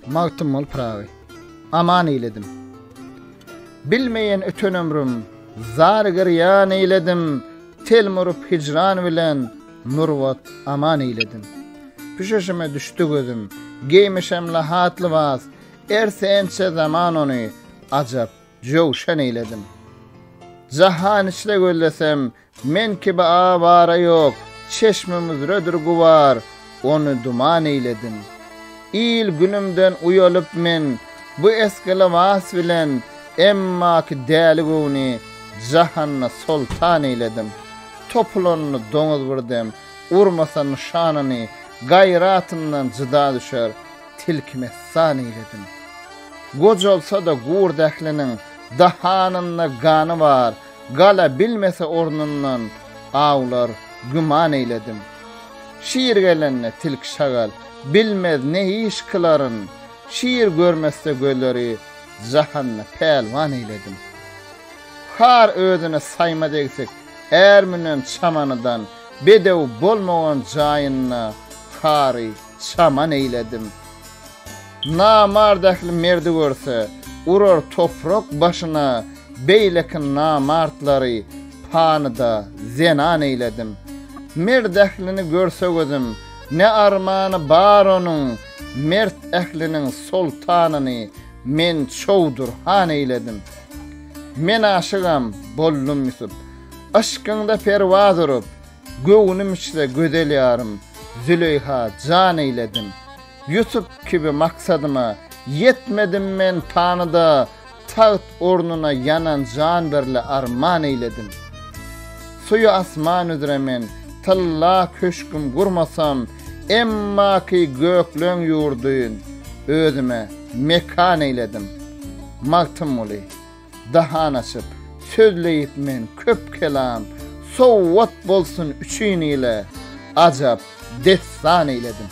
Magtymguly Pyragy aman eýledim. Bilmeýän öten ömrüm, zar girýan eýledim. Tel murup hijran bilen, murwat aman eýledim. Püşeşime düşdi gözüm, geýmişem lahat lybas. Ersençe zaman ony, ajap, jöwşan eýledim. Jahan içre gözlesem, Men kibi awara ýok, çeşmimüzredir gubar, ony duman eýledin. Il-günümden uýalyp men bu esgi lybas bilen emmaki däli göwni jahanda soltan eýledim. Topulanyny doňuz bir dem urmasa nyşanyny gaýratyndan jyda düşer tilki messan eýledim. Gojalsa-da gurt ähliniň dahanynda gany bar, Gala bilmese ornundan awlar güman eýledim. Şir gelende tilki-şagal bilmez ne iş kylaryn, Şir görmese göleri jahanda pälwan eýledim. Har özüne saýma degsik är münen çamanydan, Bedew bolmagan jaýynda hary çaman eýledim. Namart ähli merdi görse, urar toprak başyna, beýleki namartlary panyda zenan eýledim. Mert ählini görse gözüm, ne armany bar onuň, mert ähliniň soltanyny men Çowdur han eýledim. Men aşygam boldum Ýusup, yşkyňda perwaz urup, Göwnüm içse gözel ýarym, Züleýha jan eýledim. Ýusup kibi maksadyma ýetmedim men panyda, Tagt ornuna ýanan jan birle arman eýledim. Suýy asman üzre men tylla köşgüm gurmasam, Emma ki gökleň ýurdyn özüme mekan eýledim. Magtymguly. dahan açyp, sözleýip men köp kelam, sowgat bolsun üçin ile, ajap dessan eýledim.